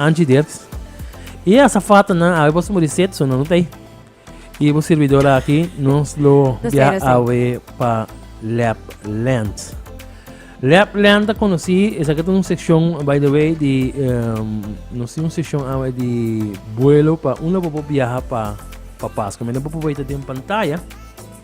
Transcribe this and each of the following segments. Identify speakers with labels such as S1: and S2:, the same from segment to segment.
S1: Angie Dirks. Y e azafatanan awe boso muri set, so no tei. Y bo servidor aki, nos lo Nos bia tero, sí. awe pa Lapland. Lapland ta conocí, esaki ta un sección, by the way, di, em, nos tin un sección awe di vuelo pa un la bobo viaja pa, pa Pasco. Mira, bobo weta den pantalla.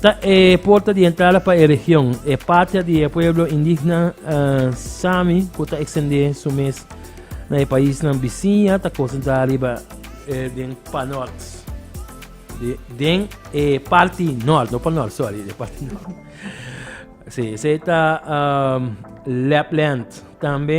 S1: Ta e porta di entrada pa e region, e patria di e pueblo indigna Sami ku ta ekstendé su mes na e paisnan bisiña ta konsentrá riba den panòrt, den e parti nòrt, no panòrt, sòri, den parti nòrt. Si, esei ta Lapland, tambe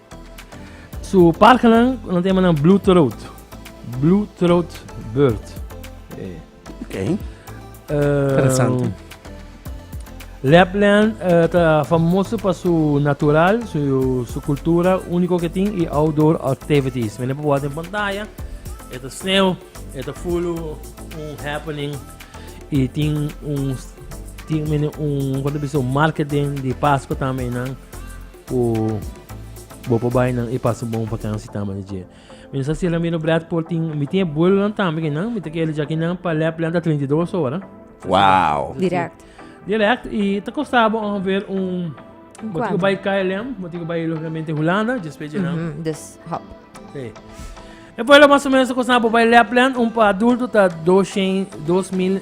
S1: Su parkanan ku nan ta yama nan blue throat, blue throat bird. Okay. Interesante. Lapland eh, ta famoso pa su natural, su, su cultura único que tin y outdoor activities. Mene pa buat en pantalla, eta sneeuw, eta full un happening y tin un, tin mene un, cuando bisa un market den di Pascua también nan. Ku bo por bai nan e paso bon pa kansi tama di dje. Mi no sa si Ramiro Brad por tin, mi tin e buelonan tambe ki nan, mi ta kere djaki nan pa lèp lanta 32 ora. Wow. Direct. Direct i ta kosta bo ongeveer un Bo tin ku bai KLM, bo tin ku bai logikamente Hulanda, dje spechi nan. Mhm, dus hop. Sí. E vuelo mas o menos ta kosta bo bai lèp land, un pa adulto ta 200, 2000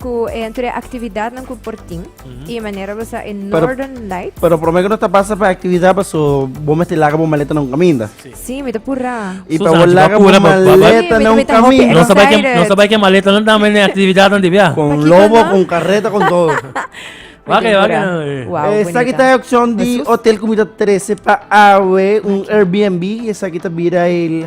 S1: Ku e tur e aktividatnan ku por tin i e manera bo sa e Northern Lights. Pero promé ku no ta basa pa e aktividat pa so bo mester laga bo maleta na un kaminda. Sí, mi ta purá. I pa bo laga bo maleta na un kaminda. No sabai ke no sabai ke maletanan ta mende aktividatnan di bia. Kon lobo, kon karreta, kon todo. Wak wak. Esaki ta e opshon di hotel ku mi ta trese pa awe un Airbnb esaki ta bira el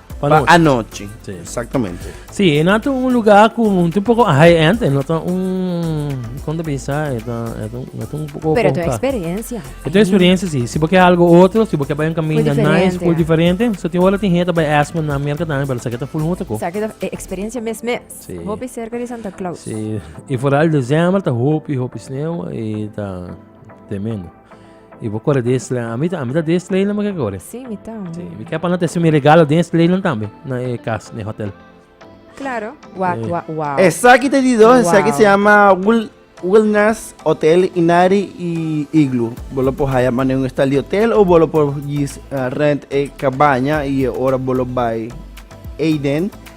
S1: Pa anochi. Sí. Exactamente. Sí, en otro un lugar con un poco high-end, en otro un... ¿Cuándo pensar? Es un poco... Pero tu experiencia. Tu experiencia, sí. Si porque algo otro, si porque va un camino nice, full diferente. So, te hola, te gente va Aspen, na América también, pero saqueta full mucho. Saqueta eh, experiencia mes mes. Sí. Hopi cerca de Santa Claus. Sí. Y fuera el diciembre, ta hopi, hopi sneeuw, y ta tremendo. Y bo corre de este A mí ta, a mí ta de este leyland que corre. Sí, mi ta. Sí, mi que para te mi regalo de este leyland también. Na e casa, na hotel. Claro. Wow, eh. wow, wow. Esa que te digo, esa que se llama Will Wellness Hotel Inari y Igloo. Bolo por haya mané un estalio hotel o bolo por gis uh, rent e cabaña y ahora bolo by Aiden.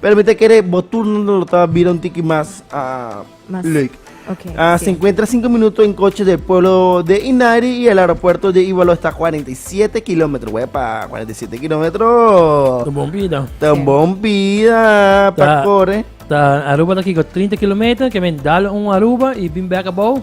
S1: Pero mi ta kere bo turno lo ta bira un tiki mas ah, Mas- leuk. Ok, Ah, sí. se encuentra 5 minutos en coche del pueblo de Inari y el aeropuerto de Ivalo está 47 kilómetros. Wepa, 47 kilómetros. Bon vida. Tan Sí. bon vida pa Ta- corre. Ta Aruba ta kiko 30 kilometer, ke men dal un Aruba y bin back abou.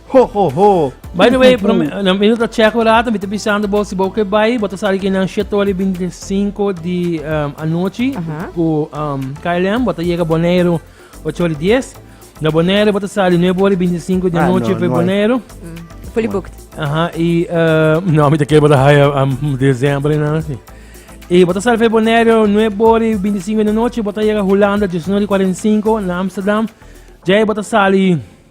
S1: Ho, ho, ho. By the way, prome, na mino ta check ora, mi te pisando bo si bo ke bai, bo ta sali ke nan shetoli bin de 5 di um, anochi Aha. ku um, KLM, bo ta llega Bonaire 8 ori 10. Na Bonaire bo ta sali 9 ori 25 di Ah, anochi no, pe no hay. Bonaire. Fully booked. Aha, i uh, no, mi te ke bo ta haya um, dezembre na si. I bo ta sali pe Bonaire 9 ori 25 di anochi, bo ta llega Holanda 19 ori 45 na Amsterdam. Jai bo ta sali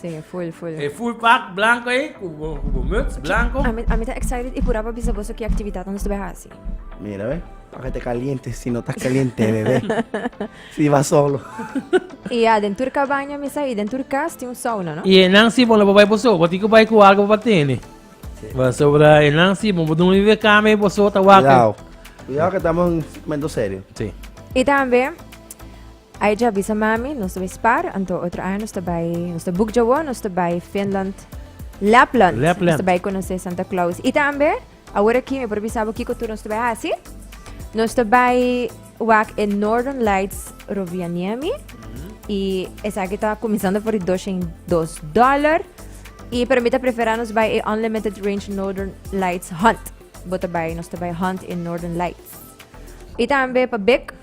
S1: Sí, full, full. E full pak blanco ey cu bo muts blanco. Ami, ami ta excited y pura pa bisa boso ki actividad nos ta bai haci. Mira we, paka te caliente si no ta caliente bebe. si ba solo. y ya den tur cabaña mi sa y den tur cas tin un sauna no. Y enan si bo no bo bai bo so bo tin cu bai cu algo pa tene. Sí. Pasobra enan si bo bo dun vive cama y bo so ta wak. Cuidado, cuidado que tamo momento serio. Sí. Y tambe. Ai dja bisa mami nos ta bai spar anto otro aña nos ta bai nos ta bukdja wou nos ta bai Finland Lapland Lapland. nos ta bai konosé Santa Claus i tambe awor aki mi por bisa bo kiko tur nos ta bai hasi nos ta bai wak e Northern Lights Rovaniemi i esaki ta kuminsando for di dosha i dos dollar i pero mi ta prefera nos bai e Unlimited Range Northern Lights Hunt bo ta bai nos ta bai Hunt e Northern Lights i tambe pa bek.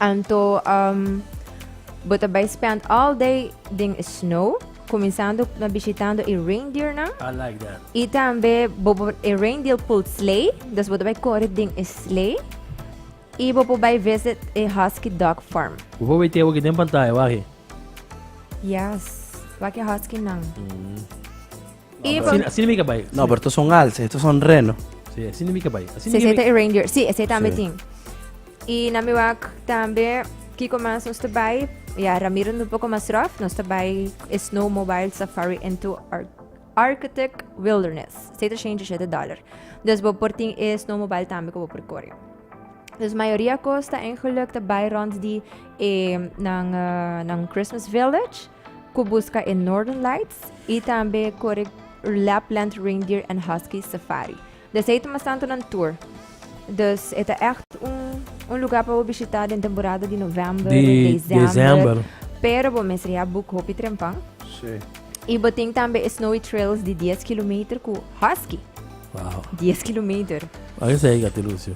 S1: Anto bo ta bai spend all day den e snow, kuminsando na bishitando e reindeernan. I like that. I tambe bo por e reindeer pull sleigh, dus bo ta bai kore den e sleigh. I bo por bai visit e husky dog farm. Bo por bai tin awor ki den pantaya wak e. Yes, wak e huskynan. Ivan. Así mi caballo. No, pero estos son alce, estos son reno. Sí, así mi caballo. Así sí, ese es reindeer. Sí, ese también sí. Y na mi wak también, Kiko más nos trabai, ya Ramiro un poco más rough, nos trabai Snow Mobile Safari into Art. Architect Wilderness, 767 dollar. Dus bo por tin e snowmobile tambe ko bo por kore. Dus mayoria kosta en geluk te bai rond di e nan, uh, nan Christmas Village. Cu busca e Northern Lights y tambe corre Lapland Reindeer and Husky Safari. Desei ta masantonan tour. Dus e ta echt un, un lugar pa bo bishita den temporada di november, Di december. december. Pero bo mester ya boek hopi trempan. Sí. Y bo tin tambe e snowy trails di 10 kilometer cu husky. Wow. 10 kilometer. Ange sei gati Lucio.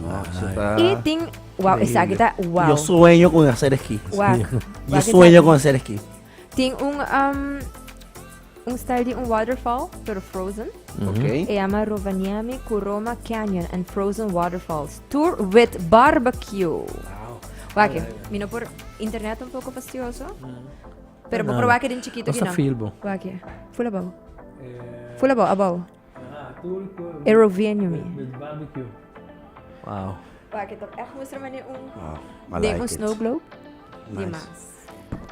S1: No, eso ta... Y tin Wow, esaki ta wow. Yo sueño con hacer esquí. Wak. Yo Wak sueño esaki. con hacer esquí. Tin un, um, un style di un waterfall, pero frozen. Ok. E llama Rovaniemi Kuroma Canyon and Frozen Waterfalls. Tour with barbecue. Wak, mi no por internet un poco fastidioso. Pero bo Nada. proba ke den chiquito Cosa kinan. feel bo? Wak, fula bow. Fula bow, abow. E rovienio mi. Wow. Waak, het op echt moesten wanneer un... Wow, maar like it. snow globe. Nice. Die maas.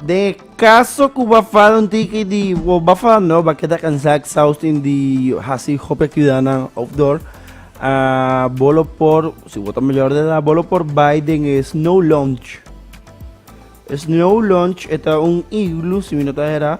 S1: De caso cu va far un tiki di o va far no va queda cansado exhausting di hasi hopi actividad nan outdoor. Uh, bolo por, si vota mayor de edad, bolo por bai den e snow launch. Snow launch eta un igloo, si mi no ta era.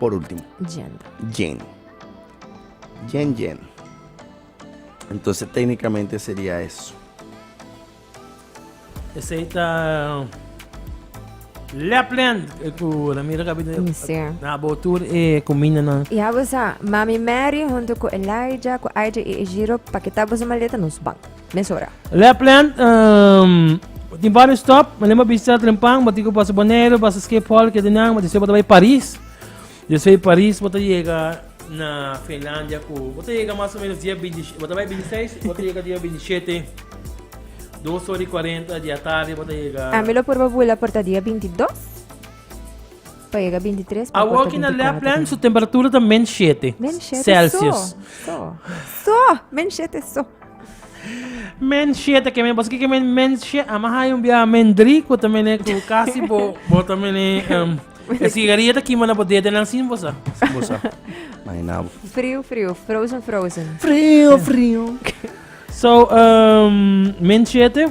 S1: Por ultimo. Jen. Jen. Jen, jen. Entonces técnicamente sería eso. Ese está. Lapland, ku na mira kapit na botur e kumina na. Ya bosa, Mami Mary junto ku Elijah, ku Elijah e Ejiro, pakita bosa maleta nos bank. mes ora. Lapland, tin bario stop, malen bo a bista Trempan, bo tin ku basa Boneiru, basa Schiphol, e kende nan, bo despues bo ta bai Paris, despues di Paris bo ta yega na Finlandia ku bo ta yega mas o menos dia binti bo ta bai binti seis bo ta yega dia binti shete, dos ora i kuarenta di atardi bo ta yega. A mi lo purba bula por ta dia binti dos pa yega binti tres pa Awor ki na kota binti kuater. Lapland su temperatura ta men shete Men shete celsius. so. So. So, men shete so. Mensje ta kemen pasobra kemen mensje a ma haña un biaha men dri ku ta mene ku kasi bo bo ta mene em, e sigaria ta kima na bo dedenan sin bo sa sin bo sa imaginá bo Frio, frio. Frozen, frozen. Frio, frio. So, um, mensje te